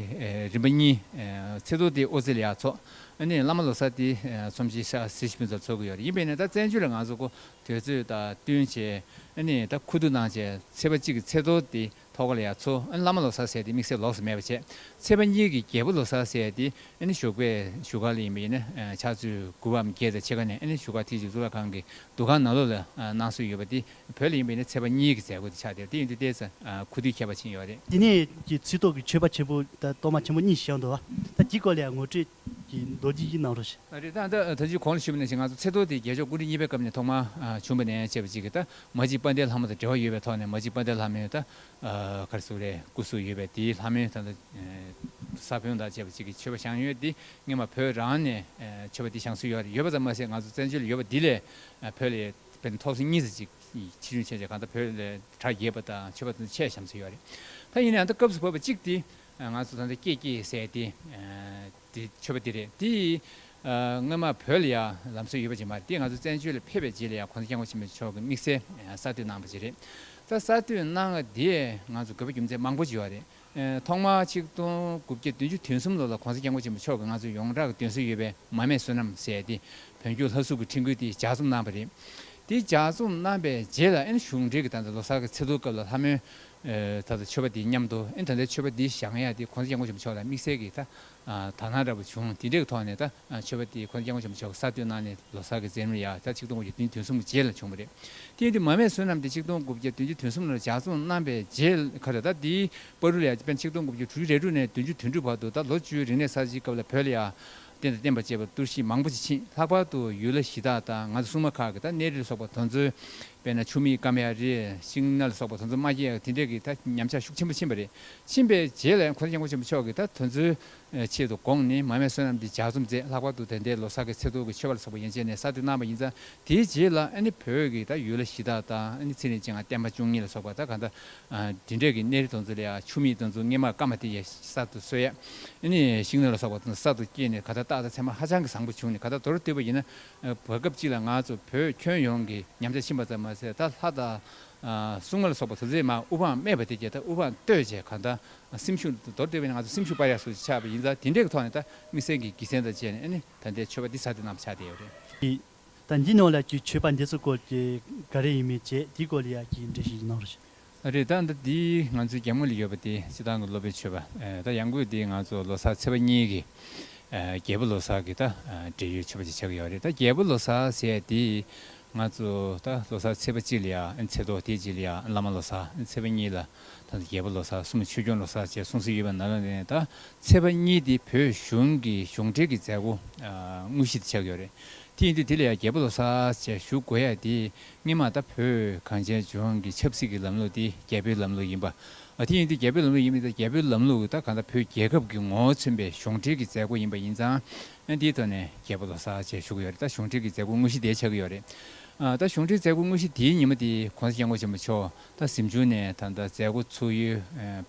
རིམ་པ་གཉིས། ཚེ་རྡོར་དེ་ཨོ་རྩེད་ལ་ཡར་འཚོགས། ཨ་ནེ་བླ་མ་ལོ་གསར་དེ་ཚོམས་ཆེན་ཤག་སེར་ཤིང་ཕུན་ཚོགས་འཚོགས་ཀྱི་ཡོད་རེད་ཡིན་པས་ན་ད་བཙན་བྱོལ་ལ་ང་ཚོ་གོ་དོད་ཚོས་ད་བསྟུན་བྱས། ཨ་ནེ་ད་ཁུ་བསྡུ་གནང་བྱས་ཚེ་པ་གཅིག་གི་ཚེ་རྡོར་དེ་ཐོག་ཁ་ལ་ཡར་འཚོགས་ཨ་ནེ་བླ་མ་ལོ་གསར་བསད་དེ་དམིགས་བསལ་ལོགས་སུ་མེད་པ་བྱས། ཚེ་པ་གཉིས་ཀྱི་རྒྱལ་པོ་ལོ་གསར་བསད་དེ་ཨ་ནེ་བཞུགས་པའི་བཞུགས་སྒར་ལ་ཡིན་པས་ཡིན་ན་ཕྱག་ཚོད་དགུ་བའམ་བརྒྱད་དང་ཕྱེད་ཀ་ནས་ཨ་ནེ་བཞུགས་སྒར་ཐིག་ཆུ་གཙུག་ལག་ཁང་གི་འདུ་ཁང་ནང་ལོགས་ལ་གནང་སྲོལ་ཡོད་པ་དེ་བོད་ལ་ཡིན་པའི་ནི་ཚད་པ་གཉིས་ཀྱི་མཛད་སྒོ་དེ་ཆགས་དེར་དེ་ཡིན་དུས་ལྟས་ཚེ་ཁུ་དུས་ཁྱད་པར་ཕྱིན་ཡོད་རེད། དེ་ནས་ཀྱི་ཚིག་ཐོག་གི་མཆོད་པ་ཆེན་པོ་དང་གཏོར་མ་ཆེན་པོ་གཉིས་བཞི་ཡང་འདུ་བ། ད་ཀྱི་སྐོར་ལ་ཡང་ངོ་སྤྲོད་ཀྱི་མདོ་འདི་ཡི་ནང་རུ། རེད་ད་ལྟ་ད་ཅིའི་གོང་ལ་ཞུས་པ་ནས་བཞིན་ང་ཚོ་ཚེ་ཐོ་དེ་རྒྱལ་མཆོག་སྐུ་དྲིན་གཉིས་པའི་སྐབས་ནས་ཐོག་མར་བྱུང་བ་ནས་བཅས་པ་ཅིག་གིས་ད་མ་ཅིག་དཔལ་ལྡན་ལྷ་མོ་དང་འབྲེལ་བ་ཡོད་པའི་ཐོག་ནས་མ་ཅིག་དཔལ་ལྡན་ལྷ་མོའི་ད་ག་རེ་སུ་རེད་སྐུ་སུ་ཡོད་པའི་དེའི་ལྷ་མོའི་ད་ལྟ་ས་བོན་དང་བཅས་པ་ཅིག་གི་མཆོད་པ་བཞེངས་ཡོད་དེ་སྔན་མ་བོད་རང་ནས་མཆོད་པ་དེ་བཞེངས་སྲོལ་ཡོད་རེད་ཡོད་པ་ཙམ་མ་ཟད་ང་ཚོ་བཙན་བྱོལ་ལ་ཡོད་པ་འདི་ལས་བོད་ལ་དཔེར་ན་ཐོག་སོ་གཉིས་སོ་གཅིག་གི་ཕྱི་དྲོའི་ཆས་ཆས་གང་ལྟར་བོད་ལས་གྲྭ་རྒྱས་པ་དང་ཆོས་པ་དང་ཆས་བཤམས་ཚུལ་ཡོད་རེད། ད་ཡིན་ན་ཡང་ད་སྐབས་སུ་བབས་པ་གཅིག་དེ་ང་ཚོ་ད་ལྟ་སྐྱེས་སྐྱེས་བསད་དེ་དེ་ཆོས་པ་དེ་རེད་དེ་སྔོན་མ་བོད་ལ་ཡང་ལམ་སྲོལ་ཡོད་པ་ཅིག་མ་རེད་དེ་ང་ཚོ་བཙན་བྱོལ་ལ་ཕེབས་པའི་རྗེས་ལ་ཡང་གོང་ས་སྐྱབས་མགོན་ཆེན་པོ་མཆོག་གི་དམིགས་བསལ་གསར་གཏོད་གནང་པ་ཅིག་རེད། ད་གསར་གཏོད་གནང་བ་དེས་ང་ཚོ་དགོས་པ་རྒྱུ་མཚན་མང་པོ་ཅིག་ཡོད་རེད། ཐོག་མར་ཆིག་སྟོང་དགུ་བརྒྱ་བདུན་ཅུ་དོན་གསུམ་ལོ་ལ་གོང་ས་སྐྱབས་མགོན་ཆེན་པོ་མཆོག་གིས་ང་ཚོར་ཡོངས་གྲགས་ཀྱི་འདོན་སྲོལ་ཡོད་པའི་མ་མས་བསོད་ནམས་བསལ་ཏེ་བོན་སྐྱོར་ལྷ་གཟུགས་ཀྱི་འཕྲིན་བསྐུལ་དེ་ལྗགས་རྩོམ་གནང་བ་རེད། དེ་ལྗགས་རྩོམ་གནང་པའི་རྗེས་ལ་ཨིན་གཞུང་འབྲེལ་གྱི་ད་ལྟ་ལོ་སར་གྱི་ཚེ་ལུའི་སྐབས་ལ་ལྷ་མོའི་ད་ལྟ་མཆོད་པ་དེའི་མཉམ་དུ་ཨིན་ད་ལྟའི་མཆོད་པ་འདི་བཞག་ཡ་དེ་གོང་ས་སྐྱབས་མགོན་ཆེན་པོ་མཆོག་ལ་དམིགས་བསལ་གྱིས་ད་ད་སྣང་འདྲ་པོ་བྱུང་དེ་འདྲའི་ཐོག་ནས་ད་ཆོས་པ་དེ་ཁོ་ནས་སྐྱབས་མགོན་ཆེན་པོ་ཆོས་ཀྱི་ས་བསྟོད་གནང་ནས་ལོ་སར་གྱི་རྫས་རིམ་ཡ་ད་ཆིག་སྟོང་དགུ་བརྒྱ་དོན་དུས་གསུམ་གྱི་རྗེས་ལ་བྱུང་བ་རེད། དེ་དུས་མ་མས་བསོད་ནམས་དེ་ཆིག་སྟོང་དགུ་བརྒྱ་དོན་གཅིག་དོན་གསུམ་ལ་ལྗགས་རྩོམ་གནང་པའི་རྗེས་ལ་ཁ་ད་ད་དེའི་པར་རུ་ལ་ཡ་དཔེར་ན་ཆིག་སྟོང་དགུ་བརྒྱ་དྲུག་ཅུ་རེ་དྲུག་ནས་བདུན་ཅུ་དོན་དྲུག་བར་དུ་ད་ལོ་བཅུའི་རིག་གནས་གསར་བརྗེའི་སྐབས་ལ་བོད་ལ་ཡ་རྟེན་དང་བརྟེན་པར་བཅས་པ་གཏོར་བཤིག་མང་པོ་བྱེད་ཕྱིན་ལྷག་པར་དུ་ཡུལ་ལྷ་གཞི་བདག་དང་ང་ཚོ་སྲུང་མ་ཁག་གི་ད་གནས་རི་ལ་སོགས་པ་དོ་འཛོལ་དཔེར་ན་ཆུ་མིག་ཀ་མ་ཡ་རི་ཤིང་སྣ་ལ་སོགས་པ་དོ་འཛོལ་མ་བརྒྱད་དེ་འདྲས་ཀྱི་ད་ཉམས་ཆག་ཤུགས་ཆེན་པོ་ཕྱིན་པ་རེད་ཕྱིན་པའི་རྗེས་ལས་འཁོར་དཀྱིལ་འཁོར་ཆེན་པོ་མཆོག་གི་དང་དོན་ཚུལ་ཆེད་དུ་དགོངས་ནས་མ་མའི་བསོད་ནམས་འདི་ལྗགས་རྩོམ་མཛད་ལྷག་པར་དུ་དེ་འདས་ལོ་སར་གྱི་ཚེ་ཐུགས་ཀྱི་མཆོད་པ་ལ་སོགས་པ་ཡན་ཆད་ནས་ས་དེ་གནང་བ་ཡིན་ཙང་དེའི་རྗེས་ལ་ཨ་ནི་བོད་ཀྱི་དང་ཡུལ་ལྷ་གཞི་བདག་དང་ཨ་ནི་ཚེ་རིང་སྤྱན་སྔར་བསྟན་པ་བཅུ་གཉིས་ལ་སོགས་པ་དང་གང་དག་དེ་འབྲེལ་གྱི་གནས་རི་དང་ཚུལ་ཡང་ཆུ་མིག་དང་ཚུལ་སྔས་མར་ཀ་མ་དེ་ཡང་གསར་དུ་སོས་ཨ་ནི་ཤིང་སྣོད་ལ་སོགས་པ་དང་གསར་དུ་སྐྱེས་ནས་ག་དག་རྟགས་དང་མཚན་མ་ཧ་ཅང་གི་བཟང་པོ་བྱུང་ནས་ག་དག་མདོར་བསྡུས་པ་ཡིན་ན་བར་སྐབས་གཅིག་ལ་ང་ཚོ་བོད་ཁྱོན་ཡོངས་ཀྱི་ཉམས་ཆག་ཕྱིན་པ་ཙམ་མ་ཟད་ད་ལྷ་དང་གསུང་ངོ་ལ་སོགས་པ་དུར་རྩེའི་མ་དབུ་འཕང་སྨད་པ་དེ་བརྒྱད་དང་དབུ་འཕང་བསྟོད་བྱས་གང་དང་སེམས་ཤུགས་འདི་མདོར་བསྟན་པས་ན་ང་ཚོ་སེམས་ཤུགས་སྤར་ཡག་སོགས་ཀྱིས་ཆགས་པ་ཡིན་ཙང་དེ་འདྲའི་གི་ཐོག་ནས་ད་དམིགས་བསལ་གྱི་གིས་མཚན་དང་བཅས་ནས་ད་ལྟའི་མཆོད་པ་འདི་ཚར་དུ་གནང་བ་ཆགས་བསྡད་ཡོད་རེད། གིས། ད་འདི་ནང་ལ་གིས་མཆོད་པ་འདི་ཚོ་སྐོར་གྱི་ག་རེ་ཡིན་མིན་བཅས་དེའི་སྐོར་ལ་ཡང་གིས་འབྲེལ་ཞིག་གནང་རོགས་ཞུ། རེད་ད་ལྟ་འདི་ང་ཚོའི་རྒྱ་དམུ་ལ་ཡོད་པ་དེ་སྤྱི་དང་གི་སློབ་པའི་མཆོད་པ་ད་ཡང་སྒོས་འདི་ང་ཚོ་ལོ་སར་ཚེས་པ་གཉིས་གི་རྒྱལ་པོ་ལོ་སར་གྱི་ད་འབྲེལ་ཡོད་མཆོད་པ་ཅིག་ཆགས་ཀྱི་ཡོད་རེད་ད་རྒྱལ་པོ་ལོ་སར་ཟེར་ཡས་དེ། ང་ཚོ་ད་ལོ་སར་ཚེས་པ་གཅིག་ལ་ཡང་ཚེ་ཐོག་དེ་གཅིག་ལ་ཡང་བླ་མ་ལོ་སར་ཚེས་པ་གཉིས་ལ་ད་ལོ་རྒྱལ་པོ་ལོ་སར་གསུམ་ལ་ཆོས་སྐྱོང་ལོ་སར་བཅས་གསུངས་སྲོལ་ཡོད་པ་ནང་ལ་ད་ཚེས་པ་གཉིས་དེ་བོད་གཞུང་གི་གཞུང་འབྲེལ་གྱི་མཛད་སྒོ་དངོས་གཞི་དེ་ཆགས་ཡོད་རེད་དེ་ཡིན་དུས་དེ་ལ་ཡང་རྒྱལ་པོ་ལོ་སར་བཅས་བཞུགས་དགོས་ཡ་དེ་སྔས་མ་ད་བོད་གངས་ཅན་ལྗོངས་ཀྱི་ཆབ་སྲིད་ཀྱི་ལམ་ལུགས་དེ་རྒྱལ་པོའི་ལམ་ལུགས་ཡིན་པ་དེ་ཡིན་དུས་རྒྱལ་པོའི་ལམ་ལུགས་ཡིན་པ་ད་རྒྱལ་པོའི་ལམ་ལུགས་ད་གང་ལྟར་བོད་རྒྱལ་ཁབ་ཀྱི་ངོ་བོ་མཚོན་པའི་གཞུང་འབྲེལ་གྱི་མཛད་སྒོ་ཡིན་པ་ཡིན་ཙང་ཨ། འདིའི་ཐོག་ནས་རྒྱལ་པོ་ལོ་སར་བཅས་ཞུགས་ཀྱི་ཡོད་རེད་ད་གཞུང་འབྲེལ་གྱི་མཛད་སྒོ་དངོས་གཞི་དེ་ཆགས་ཀྱི་ཡོད་རེད། ད་གཞུང་འབྲེལ་མཛད་སྒོ་དངོས་གཞི་དེའི་ཉིན་མོ་དེ་གོང་ས་སྐྱབས་མགོན་ཆེན་པོ་མཆོག་ད་གཟིམ་ཆུང་ནས་ད་ལྟ་མཛད་སྒོ་ཚུགས་ཡུལ་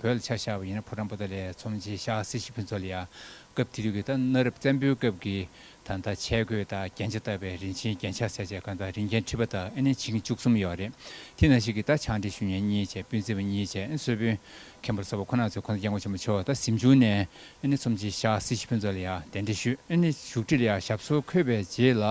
བོད་ལ་ཆ་ཤར་བ་ཡིན་ན་ཕོ་བྲང་པོ་ཏཱ་ལའི་ཚོམས་ཆེན་ཤག་སེ་ཤི་ཕུན་ཚོགས་ལ་ཡང་སྐབས་དེ་དུས་ཀྱི་ད་གནའ་རབས་བཙན་པོའི་སྐབས་ཀྱི་ད་ལྟ་ཆས་གོས་དང་རྒྱན་ཆ་བཏགས་པའི་རིན་ཆེན་རྒྱན་ཆ་སེར་བྱེས་གང་དང་རིན་རྒྱན་ཁྲི་པ་དང་ཨེ་ནས་བྱིན་གྱིས་བཅུ་གསུམ་ཡོད་རེད། དེ་ན་ཞིག་གི་ད་བྱང་འདྲེ་ཞུ་ཉན་གཉིས་བཅས་སྤུན་བཙན་པོ་གཉིས་བཅས་ཨེ་གསོལ་དཔོན་མཁན་པོར་ས་བ་ཁོ་ན་ཚོས་གོང་ས་སྐྱབས་མགོན་ཆེན་པོ་མཆོག་ད་གཟིམ་ཆུང་ནས་ཨེ་ནི་ཚོམས་ཆེན་ཤག་སྲིད་སྤྱི་ཕུན་ཚོགས་ལ་ཡང་གདན་འདྲེན་ཞུས། ཨེ་ནི་བཞུགས་ཁྲི་ལ་ཡང་ཞབས་སོར་འཁོད་པའི་རྗེས་ལ།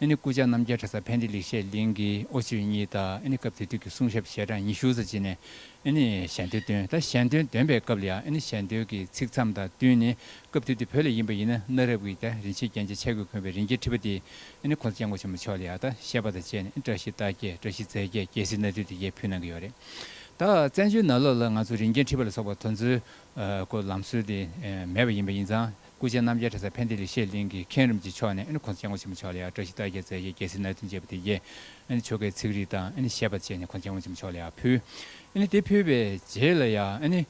ཨེ་ནི་སྐུ་བཅར་རྣམ་རྒྱལ་གྲྭ་ས་ཕན་བདེ་ལེགས་བཤད་གླིང་གི་ཨོ་ཕྱིར་གཉིས་དང་ཨེ་ནི་སྐབས་དེ་དུས་ཀྱི་གསུང་ཞབས་ཞལ་གྲངས་ཉི་ཤུ་རྩ་གཅིག་ནས་ཨེ་ནི་ཞལ་འདོན་བཏོན་ད་ཞལ་འདོན་འདོན་པའི་སྐབས་ལ་ཡང་ཨེ་ནི་ཞལ་འདོན་གྱི་ཚིག་མཚམས་དང་བསྟུན་ནས་སྐབས་དེ་དུས་བོད་ལ་ཡིན་པ་ཡིན་ན་གནའ་རབས་ཀྱི་རྒྱ་རིན་ཆེན་རྒྱན་ཆའི་ཆས་གོས་གོན་པའི་རིན་རྒྱས་ཁྲི་པ་དེ་ཨེ་ནི་ཁོང་ཚོ་སྐྱབས་མགོན་ཆེན་པོ་མཆོག་ལ་ཡང་ད་བཤད་པ་དང་བཅས་ནས་ཨེ་ནི་བཀྲ་ཤིས་རྟགས་བརྒྱད་བཀྲ་ཤིས་རྫས་བརྒྱད་རྒྱལ་སྲིད་སྣ་བདུན་དེ་བརྒྱད་ཕུལ་གནང་གི་ཡོད་རེད་ད་བཙན་བྱོལ་ནང་ལོགས་ལ་ང་ཚོ་རིན་རྒྱན་ཁྲི་པ་ལ་སོགས་པ་དོལ་མཛོད་སྐོར་ལམ་སྲོལ་དེ་མེད་པ་ཡིན་པ་ཡིན་ཙང་སྐུ་ཆེན་རྣམ་རྒྱལ་གྲྭ་ཚ་བྷན་དྷི་ལི་ཤེས་གླིང་གི་མཁན་རིམ་གྱི་མཆོག་ནས་ཁོང་ཚོ་སྤྱན་སྔོན་ཆེན་པོ་མཆོག་ལ་ཡང་བཀྲ་ཤིས་རྟགས་བརྒྱད་རྩལ་བརྒྱད་རྒྱལ་སྲིད་ནོར་འཛིན་བཅས་པ་དེ་རྗེས་ཆོ་གའི་ཚིག་རིས་དང་བཤད་པ་བཅས་ནས་ཁོང་སྤྱན་སྔོན་ཆེན་པོ་མཆོག་ལ་ཡང་ཕུལ། དེ་ཕུལ་བའི་རྗེས་ལ་ཡང་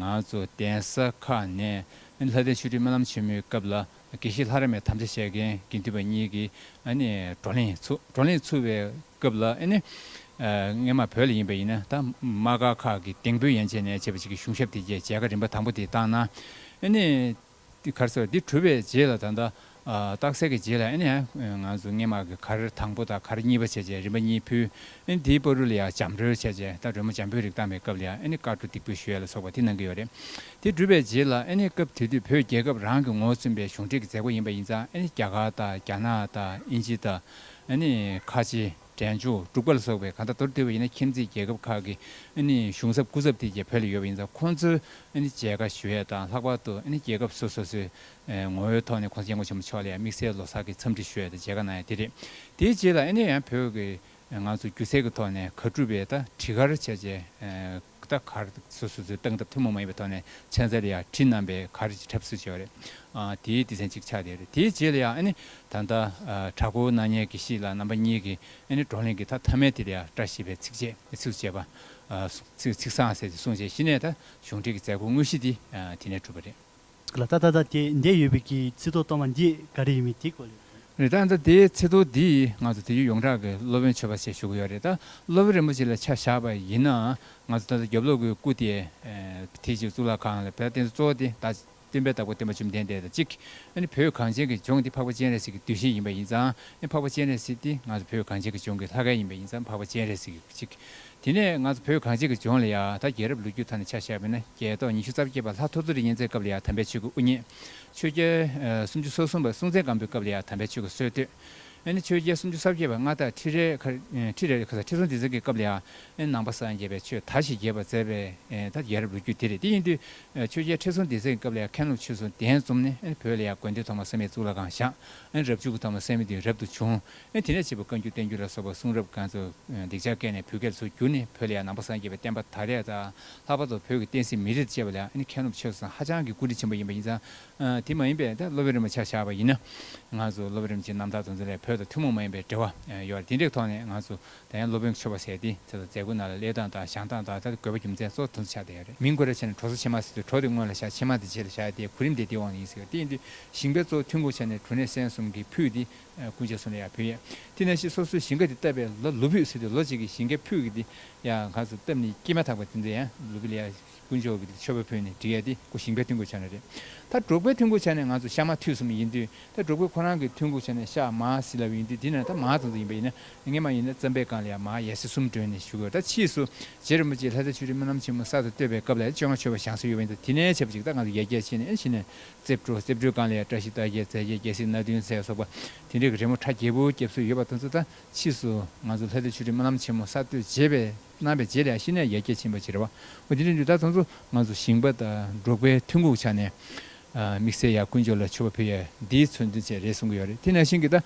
ང་ཚོ་གདན་ས་ཁག་ནས་ལྷ་ལྡན་ཆོས་ཁྲི་སྨོན་ལམ་ཆེན་མོའི་སྐབས་ལ་དགེ་བཤེས་ལྷ་ར་མས་དམ་བཅའ་བྱས་མཁན་དགེ་འདུན་པ་གཉིས་ཀྱིས་བགྲོ་གླེང་ཚུགས། བགྲོ་གླེང་ཚུགས་པའི་སྐབས་ལ། ངས་མ་བོད་ལ་ཡིན་པ་ཡིན་ན་ད་མ་དགའ་ཁག་གི་དེང་བོད་ཡན་ཆད་ནས་བྱས་པ་ཅིག་གི་གཞུང་ཞབས་དེ་རྗེས་མཇལ་ཁ་རིམ་པ་དང་པོ་དེ་བཏང་ན། གར་ཟེར་བ་འདི་གྲུབ་པའི་རྗེས་ལ་ད་ལྟ་རྟགས་གསལ་གྱི་རྗེས་ལ་ང་ཚོ་སྔས་མ་གི་གར་དང་པོ་དང་གར་གཉིས་པ་བྱས་རྗེས་རིམ་པ་གཉིས་ཕུལ། དེའི་པར་རུ་ལ་ཡང་འཇམ་རོལ་བྱས་རྗེས་ད་རོལ་མོ་འཇམ་པོའི་རིགས་བཏང་བའི་སྐབས་ལ་ཡང་གར་གྲུ་སྡིག་པོའི་ཞུ་ཡ་ལ་སོགས་པ་དེ་གནང་གི་ཡོད་རེད། དེ་གྲུབ་པའི་རྗེས་ལ་ཨེ་ནི་སྐབས་དེ་དུས་བོད་རྒྱལ་ཁབ་རང་གི་ངོ་ཚུན་པའི་གཞུང་འབྲེལ་གྱི་མཛད་སྒོ་ཡིན་པ་ཡིན་ཙང་ཨེ་ནི་རྒྱ་གར་དང་རྒྱ་ནག་དང་དབྱིན་ཇི་དང་ཨེ་ནི་ཁ་ཆེ། འབྲས་འཇོ། འབྲུག་པ་ལ་སོགས་པའི་གང་དག་མདོར་བསྡུས་པ་ཡིན་ན་ཁྱིམ་མཚེས་རྒྱལ་ཁབ་ཁག་གི་ཨེ་ནི་གཞུང་ཚབ་སྐུ་ཚབ་དེ་རྒྱ་བོད་ལ་ཡོད་པ་ཡིན་ཙང་ཁོང་ཚོའི་ཨེ་ནི་མཇལ་ཁ་ཞུ་ཡས་དང་ལྷག་པར་དུ་ཨེ་ནི་རྒྱལ་ཁབ་སོ་སོ་སོའི་ངོ་བོའི་ཐོག་ནས་ཁོང་ཚོ་མཇལ་སྐོར་ཆེན་པོ་མཆོག་ལ་ཡང་དམིགས་བསལ་ལོ་སར་གྱི་འཚམས་འདྲི་ཞུ་ཡས་དང་མཇལ་ཁ་གནང་ཡས་དེ་རེད། དེའི་རྗེས་ལ་ཨེ་ནི་ཡང་བོད་ཀྱི་ང་ཚོ་སྒྱུ་རྩལ་གྱི་ཐོག་ནས་གར་སྒྲུབ་པའི་ད་དྲི་གར་བྱས་རྗེས། ཀ་ཁ་ར་སོ་སོ་ཚོའི་སྟངས་སྟབས་ཐུན་མོང་མ་ཡིན་པའི་ཐོག་ནས་ཚན་རྩལ་ལ་ཡང་བྲིས་རྣམས་པས་ག་རེ་བྱེད་གྲབས་སུ་བྱས་པ་རེད། དེའི་སྡེ་ཚན་གཅིག་ཆགས་བསྡད་རེད། དེའི་རྗེས་ལ་ཡང་ཨ་ནི་ད་ལྟ་བྲག་འགོ་སྣ་ཉལ་གྱི་ཤིག་ལ་རྣམ་པ་གཉིས་ཀྱི་ཨ་ནི་བགྲོ་གླེང་གི་ཐ་མཐའ་མའི་དེ་ལ་ཡང་བཀྲ་ཤིས་པའི་ཚིག་བཅད་ཚིག་བཅད་པ། ཚིག་བཟང་ཟེར་ཏེ་གསུངས་རྗེས་གཞི་ནས་ད་གཞུང་འབྲེལ་གྱི་མཛད་སྒོ་དངོས་གཞི་དེ་དེ་ནས་གྲུབ་པ་རེད། ལ་ད་ལྟ་དེ་འདས་ཡོད་པའི་གི་ཚིག་ཐོག་གཏོང་བ་འདི་ག་རེ་ཡིན་མིན་དེ་གོ། རེད་ད་ལྟ་དེའི་ཚིག་ཐོག་འདི་ང་ཚོ་དེ་རྒྱུད་ཡོངས་གྲགས་ཀྱི་སློབ་དཔོན་ཆོས་པ་ཞེས་ཞུ་གི་ཡོད་རེད་ད་སློབ་དཔོན་རིན་པོ་ཆེ་ལ་ཆ་བཞག་པ་ཡིན་ན་ང་ཚོ་ད་ལྟ་རྒྱབ་ལོག་གི་སྐུ་དེ་དེ་གཅིག་གཙུག་ལག་ཁང་ལ་བོད་བསྟན་སྲིད་གཙོ་བོ་དེ་བསྟན་པའི་བདག་པོ་བསྟན་པ་བཅོམ་ལྡན་འདས་དང་གཅིག་ཨ་ནི་བོད་གངས་ཅན་གྱི་ལྗོངས་འདི་འཕགས་པ་སྤྱན་རས་གཟིགས་ཀྱི་འདུལ་ཞིང་ཡིན་པ་ཡིན་ཙང་ཨ་ནི་འཕགས་པ་སྤྱན་རས་གཟིགས་འདི་ང་ཚོ་བོད་གངས་ཅན་གྱི་ལྗོངས་ཀྱི་ལྷ་སྐལ་ཡིན་པ་ཡིན་ཙང་འཕགས་པ་སྤྱན་རས་གཟིགས་ཀྱི་གཅིག་དེ་ནས་ང་ཚོ་བོད་གངས་ཅན་གྱི་ལྗོངས་ལ་ཡང་ད་རྒྱལ་རབས་ལོ་རྒྱུས་ཐོག་ནས་ཆ་བཞག་པ་ན་རྒྱལ་ཐོག་ཉི་ཤུ་རྩ་བརྒྱད་པ་ལྷ་ཐོ་ཐོ་རི་བསྙེན་ཚད་སྐབས་ལ་ཡང་དམ་པའི་ཆོས་ཀྱི་དབུ་བརྙེས། ཆོས་རྒྱལ་སུམ་ཅུ་སོ་གསུམ་པ་སྲུང་བཙན་སྒམ་པོའི་སྐབས་ལ་ཡང་དམ་པའི་ཆོས་ཀྱི་སྲོལ་བཏོད། ཨེ་ནི་ཆོས་རྒྱལ་སུམ་ཅུ་ས་བརྒྱད་པ་མངའ་བདག་ཁྲི་རལ་ཁྲི་རལ་ཁྲི་སྲོང་ལྡེ་བཙན་གྱི་སྐབས་ལ་ཡང་ཨེ་ནི་ནང་པ་སངས་རྒྱས་པའི་ཆོས་དར་ཞིག་རྒྱས་པར་མཛད་པས་ད་རྒྱལ་རབས་ལོ་རྒྱུས་དེ་རེད་དེ་ཡིན་དུས་ཆོས་རྒྱལ་ཁྲི་སྲོང་ལྡེ་བཙན་གྱི་སྐབས་ལ་ཡང་མཁན་སློབ་ཆོས་སྲུང་གདན་འཛོམས་ནས་ཨེ་ནི་བོད་ལ་ཡང་དགོན་སྡེ་ཐོག་མ་སངས་མའི་གཙུག་ལག་ཁང་བཞག་ཨེ་ནི་རབ་བྱུང་གི་ཐོག་མ་སངས་མའི་དུས་རབས་དུ་བྱུང་དེ་ནས་བྱིས་པ་བཀའ་འགྱུར་བསྟན་འགྱུར་ལ་སོགས་པ་གསུང་རབ་གང་ཚུགས་སྡིག་ཆ་བཀལ་ནས་བོད་སྐད་ལ་ཚུར་བསྒྱུར་ནས་བོད་ལ་ཡང་ནང་པ་སངས་རྒྱས་པའི་བསྟན་པ་དར་ཡས་དང་ལྷག་པར་དུ་བོད་ཀྱི་བསྟན་སྲིད་མི་རིགས་བཅས་པ་ལ་མཁས་རློམ་ཆེ་སོང་ཧ་ཅང་གི་བཀུར་སྟི་ཆེན་པོ་ཡིན་པ་ཡིན་ཙང། དེ་མ་ཡིན་པའི་ད་སློབ་དཔོན་རིན་པོ་ཆ་བཞག་པ་ཡིན་ན། ང་ཚོ་སློབ་དཔོན་རིན་པོ་ཆེ་རྣམ་དག་དང་ཚུར་ལས་བོད་དང་ཐུན་མོང་མ་ཡིན་པའི་འབྲེལ་བ་ཡོད་དེ་འདྲའི་ཐོག་ནས་ང་ཚོ་ད་ཡང་སློབ་དཔོན་གྱི་ཆོས་པ་ཟེར་ཏེ་ཚེ་དང་མཛད་སྒོ་རྣམས་ལ་གླེགས་སྟངས་དང་བཞག་སྟངས་དང་ད་ལྟ་དགོས་པ་རྒྱུ་མཚན་གཙོ་བོ་དོན་དུ་ཆགས་བསྡད་ཡོད་རེད། མིང་གོ་ར་ཆེ་ན་གྲོ་སོ་ཆེ་མ་ཟེར་དུས་གྲོ་དེ་སྔོན་ལ་བཞག་ཆེ་མ་དེ་རྗེས་ལ་བཞག་སྟེ་གོ་རིམ་དེ་དེའི་འོག་ནས་ཡིན་ཟེར་བ་དེ་ཡིན་དུས་ཞིང་པའི་གཙོ་བོ་ཐུན་གོ་ཆ་ནས་གྲོ་ནས་སྲན་གསུམ་གྱིས་ཕུད་དེ་ཀུན་བྱས་སུ་ནི་ཡང་ཕུལ། དེ་ནས་ཞེས་སོ་སོའི་ཞིང་ཁ་དེ་བཏབ་པས་ལ་ལུ་བུས་ཟེར་ཏེ་ལོ་གཅིག་གི་ཞིང་ཁའི་ཕུག་གི་དེ་ཡང་གང་སུ་བཏབ་ནས་སྐྱེས་མ་ཐག་པ་དེ་ཚོ་ཡང་ལུ་བུས་ལ་ཡང་དཀོན་མཆོག་གི་མཆོད་པ་ཕུལ་ནས་འདྲི་ཡས་ཏེ་ཀོ་ཞིང་པའི་ཐུན་གུག་བྱ་ན་རེ་ད་འབྲོག་པའི་ཐུན་གུག་བྱ་ནས་ང་ཚོ་ཤ་མ་ཐུས་སམ་ཡིན་དུས་ད་འབྲོག་པའི་ཁོ་རང་གི་ཐུན་གུག་བྱ་ནས་ཤ་མ་བཟི་ལ་བས་ཡིན་དུས་དེ་ན་ད་མ་ཙང་ཙང་ཡིན་པ་ཡིན་ན་ངས་མ་ཡིན་ན་རྩམ་པའི་སྒང་ལ་ཡང་མ་ཡས་སེ་གསུམ་བྲོས་ནས་བཞུགས་ཡོད་ད་ཕྱིས་སུ་རྗེ་རིན་པོ་ཆེ་ལྷ་ས་ཆུ་རིན་སྨོན་ལམ་ཆེན་མོ་གསར་དུ་བཏོད་པའི་སྐབས་ལ་ཡང་བཅོ་ལྔ་མཆོད་པ་བཞེངས་སྲོལ་ཡོད་པ་ཡིན་ད་དེ་ནས་བྱེད་པ་ཅིག་ད་ང་ཚོ་ཡས་རྒྱལ་ཆེ་ནས་ཕྱིན་ནས་རྩིབས་དྲུག་རྩིབས་དྲུག་གང་ལས་བཀྲ་ཤིས་རྟགས་བརྒྱད་རྩལ་བརྒྱད་རྒྱལ་སྲིད་སྣ་བདུན་ཚེ་སོགས་པ་དེ་འདྲའི་རི་མོ་ཁྲ་རྒྱལ་པོའི་སྐྱབས་སུ་ཡོད་པ་དང་ཚུལ་དང་ཕྱིས་སུ་ང་ཚོ་ལྷ་རྩེ་ཆུས་རིམ་སྣ་ལམ་ཆེན་མོ་གསར་གཏོད་བྱེད་པའི་གནང་བའི་རྗེས་ལས་གཞི་ནས་ཡར་རྒྱས་ཕྱིན་པ་བྱེད་རེ་བ་དེ་འདྲའི་འདུས་ད་དང་ཚོ་ང་ཚོ་ཞིང་པ་དང་འབྲོག་པའི་ཐུན་འགུག་ཆ་ནས་དམིགས་བསལ་ཡང་ཀུན་སྤྱོད་ལ་ཆུ་བ་ཕུལ་ཡ་འདིའི་མཚོན་དོན་ཆེད་རེད་གསུང་གི་ཡོད་རེད་དེ་ནས་ཞིང་གི་ད་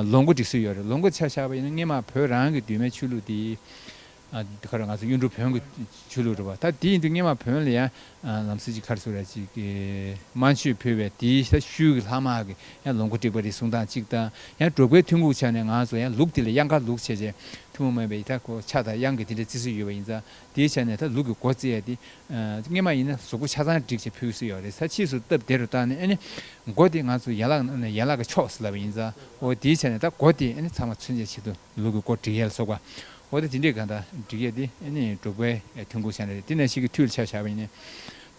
ལོ་མགོ་འགྲིག་སྲོལ་ཡོད་རེད་ལོ་མགོ་ཆ་བཞག་པ་ཡིན་ན་སྔས་མ་བོད་རང་གི་འདུས་མའི་ཆོས་ལུགས་དེའི་འདི་གར་ང་ཚོ་གཡུ་འབྲུག་བོན་གྱི་ཆོས་ལུགས་རེད་བ། ད་དེ་ཡིན་དུས་སྙེ་མ་བོན་ལ་ཡང་ལམ་སྲོལ་གྱི་ཁར་སོ་ར་ཅིག་གི་རྨ་ཆུས་ཕུལ་བས་དེའི་ས་ཤུལ་གྱི་ལྷག་དམག་གི་ཡང་ལོངས་སྐུ་དཀྲིགས་པ་རེ་ཟུང་དང་གཅིག་དང་ཡང་འབྲོག་པའི་ཐུན་འགུགས་ཆ་ནས་ང་ཚོ་ཡང་ལུགས་དེ་ལ་གཡང་ཁ་ལུགས་བྱས་བྱས་ཐུན་མོང་མིན་པའི་ཡི་དྭགས་སྐོར་ཆ་དང་གཡང་གི་དེ་འདྲའི་བརྩི་སྲོལ་ཡོད་པ་ཡིན་ཙང་དེའི་ཆ་ནས་ད་ལུགས་ཀྱི་སྒོ་བརྩེགས་དེ་སྙེ་མ་ཡིན་ན་བཟོ་སྒོ་ཆ་ཚང་བསྒྲིགས་བྱས་ཕུལ་སྲོལ་ཡོད་རེད་ས་ཕྱིས་སུ་སྟབས་བདེ་རུ་བཏང་ནས་ཨེ་ནས་སྒོ་དེ་ང་ཚོ་ཡན་ལག་ནང་ནས་ཡན་ལག་གི་ཕྱོགས་སུ་ལབ་པ་ཡིན་ཙང་ཨོ་དེའི་ཆ་ནས་ད་སྒོ་དེ་ཨེ་ནས་ཚང་མ་ཚུན་ཆད་ཆེད་དུ། ལུག་གི་སྐོར་འབྲི་ཡལ་སོགས་པ། འོ་དེ་ཇི་འདྲའི་གང་དང་འགྲིག་ཡས་དེ་ནི་འབྲུག་པའི་ཐོན་ཁུངས་ཤང་རེད་དེ་ནས་ཤིག་གི་ཐུའི་ལ་ཆ་བཞག་པ་ཡིན།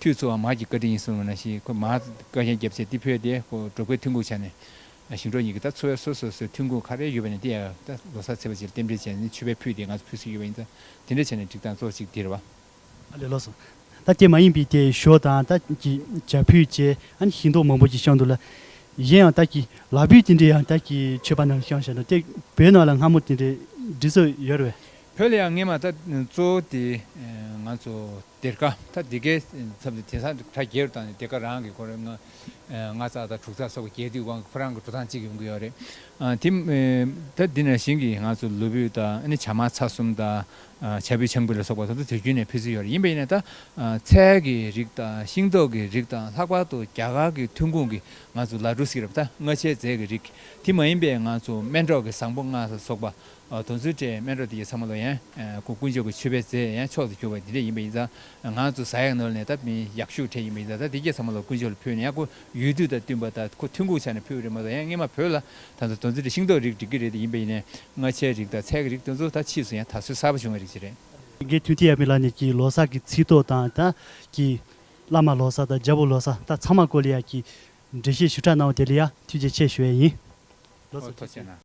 ཐུའི་ཚོ་བ་མར་གྱི་བཀའ་དྲིན་ཡིན་གསུང་བ་ན་ཤིག་ཁོས་མར་བཀའ་ཤན་རྒྱབ་ཚེ་དེ་ཕོས་ཏེ་འབྲུག་པའི་ཐོན་ཁུངས་ཆ་ནས། ཞིང་འབྲོག་གཉིས་ཀྱི་ད་ཚོ་བའི་སོ་སོ་སོའི་ཐོན་ཁུངས་ག་རེ་ཡོད་པ་ནས་དེ་ཡང་ད་ལོ་ས་ཚེ་བ་ཅིག་ལ་རྟེན་འབྲེལ་བྱས་ནས་ནི་ཆུ་བས་ཕུལ་ཏེ་ང་ཚོ་ཕུལ་སྲོལ་ཡོད་པ་ཡིན་ད་དེ་འདྲའི་ཆ་ནས་འགྲིག་དང་གཙོ་བོ་ཅིག་འདིར་བ། ལེ་ལོ་སོང། ད་སྐྱེས་མ་ཡིན་པའི་དེ་ཞོ་དང་ད་ཀྱི་བྱ་ཕུད་བཅས་ཨཱ་ཤིང་ཏོག་མང་པོ་ཅིག་བཤང་འདུག་ལ། གཞན་ཡང་ད་ཀྱི་ལག་བུད་དེ་འདྲས་ཡང་ད་ཀྱི་མཆོད་པ་རྣམས་བཤང་བཞག་འདུག་སྟེགས་བུའི་ནང་ལ་སྔ་མོ་དེ་འདྲས་འབྲི་སྲོལ་ཡོད་རེད། བོད་ལ་ཡང་ངེད་མ་ད་གཙོ་བོ་དེ་ང་ཚོ་དེར་ཀ་ཐ་དེ་ཀའི་མཚམས་དེ་དེང་སང་གྲ་རྒྱས་རུ་བཏང་ནས་དེ་ཀ་རང་གི་ཁོར་ལྔ་ཙག་དང་དྲུག་ཙག་སོགས་ཀྱི་རྒྱས་དུས་དབང་གི་ཁོ་རང་གི་འགྲོ་སྟངས་གཅིག་ཡོང་གི་ཡོད་རེད། དེ་ད་འདི་ནང་བཞིན་གྱི་ང་ཚོ་ལུས་བུད་དང་བྱ་མ་ཚ་གསུམ་དང་བྱ་ཕོའི་ཆང་བུ་ལ་སོགས་པ་སོགས་དུས་ཚོད་རྒྱུན་ནས་ཕུལ་ཚུལ་ཡོད་རེད་ཡིན་པ་ཡིན་ན་ད་ཚལ་གྱི་རིགས་དང་ཤིང་ཏོག་གི་རིགས་དང་ལྷག་པར་དུ་རྒྱ་གར་གྱི་ཐོན་ཁུངས་ཀྱི་ང་ཚོ་ལ་འགྲོ་སྲིད་རབས་ད་སྔ་ཆའི་རྫས་ཀྱི་རིགས་དེ་མ་ཡིན་པའི་ང་ཚོ་སྨན་གྲོགས་ཀྱི་བཟང་པོ་ལྔ་ས་སོགས་པ་དོན་ཚུལ་བཀྲའི་སྨན་གྲོགས་དེ་ཡི་ཚང་མ་ལོ་ཡན་གུ་དཀོན་མཆོག་གི་མཆོད་པའི་རྫས་ཡན་ཕྱོགས་སུ་གྱུར་པ་དེ་འདྲས་ཡིན་པ་ཡིན་ད་ང་ཚོ་བཟའ་ཡག་ནོར་ནས་ད་མི་ཡག་ཤུགས་ཕྲད་ཡིན་པ་ཡིན་ད་ད་དེ་ཀྱེ་ཚང་མ་ལོ་དཀོན་མཆོག་ལ་ཕུལ་ནས་ཡག་གོ་ཡུལ་དུས་དང་བསྟུན་པ་ད་ཁོ་ཐོན་ཁུངས་ཆ་ནས་ཕུལ་བ་རེད་མ་ད་ཡན་སྔས་མ་བོད་ལ་ད་ལྟ་དོན་ཚན་དེ་ཤིང་ཏོག་རིགས་འགྲིག་གི་རིགས་དེ་ཡིན་པས་ཡིན་ནས་ལྔ་ཆའི་རིགས་དང་ཚལ་གྱི་རིགས་དེ་ཚོ་ད་ཕྱིས་སུ་ཡང་དར་སྲོལ་གསར་པ་བྱུང་བའི་རིགས་ཤིག་རེད། དགེ་ཐུན་ཏི་ཡབ་མེས་ལགས་ནས་ཀྱི་ལོ་སར་གྱི་ཚིག་ཐོ་དང་ད་ཀྱི་བླ་མ་ལོ་སར་དང་རྒྱལ་པོ་ལོ་སར་ད་ཚང་མ་ཀོ་ལི་ཡ་གྱི་འགྲེལ་བཤད་ཞུ་དྲག་གནང་བ་དེ་ལ་ཡང་ཐུགས་རྗེ་ཆེ་ཞུ་བས་ཡིན། ལོ་སར་ཐོ་བཅས་ན།